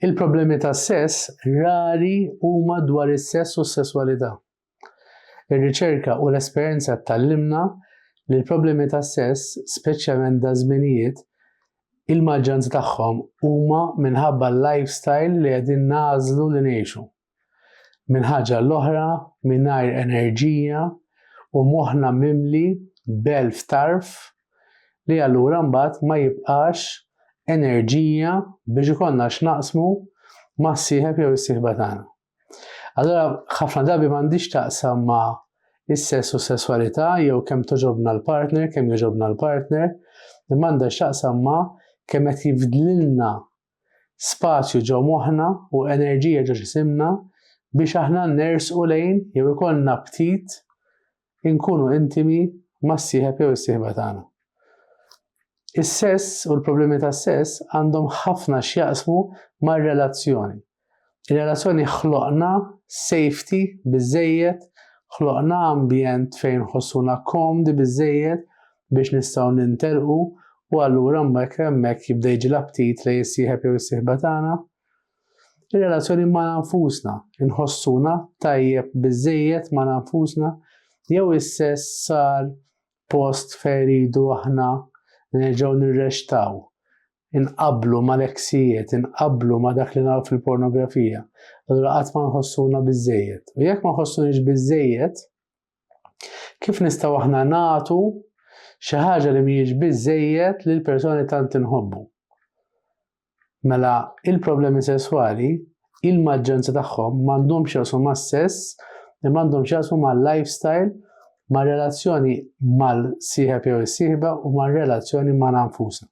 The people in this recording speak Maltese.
Il-problemi tas-sess rari huma dwar is-sess u s-sesswalità. Ir-riċerka u l-esperjenza tgħallimna li l-problemi tas-sess, speċjalment daż-żminijiet, il-maġġanza tagħhom huma minħabba l-lifestyle li qegħdin nagħżlu li ngħixu. Minn ħaġa l-oħra, mingħajr enerġija u moħħna mimli b'elf tarf li allura mbagħad ma jibqax enerġija biex ikollna x'naqsmu mas-sieħeb jew is-sieħba tagħna. Allura ħafna drabi m'għandix taqsam ma' is-sess u s-sesswalità jew kemm toġobna l-partner, kemm joġobna l-partner, imma għandha x'taqsam ma' kemm qed jifdlilna spazju ġo moħħna u enerġija ġo ġisimna biex aħna nersqu lejn jew ikollna aptit inkunu intimi mas-sieħeb jew is-sieħba tagħna. Is-sess u l-problemi tas-sess għandhom ħafna x'jaqsmu mar-relazzjoni Ir-relazzjoni ħloqna safety biżżejjed, ħloqna ambjent fejn nħossuna komdi biżżejjed biex nistgħu nintelqu u allura mbagħad hemmhekk jibda jiġi l-aptit lejn is-sieħeb jew is-sieħba tagħna. Ir-relazzjoni ma' nfusna, inħossuna tajjeb biżżejjed ma' nfusna jew is-sess sar post fejn iridu aħna nerġgħu nirrextaw inqabblu mal-eksijiet, inqabblu ma' dak li naraw fil-pornografija, allura qatt ma nħossuna biżejjed. U jekk ma nħossuniex biżejjed, kif nistgħu aħna nagħtu xi ħaġa li mhijiex biżejjed lil persuni tant inħobbu? Mela, il-problemi sesswali il-maġġoranza tagħhom m'għandhomx jaqsmu mas-sess, imma għandhom x'jaqsmu mal-lifestyle, mar-relazzjoni mal-sieħeb jew is-sieħba u mar-relazzjoni ma' nfusna.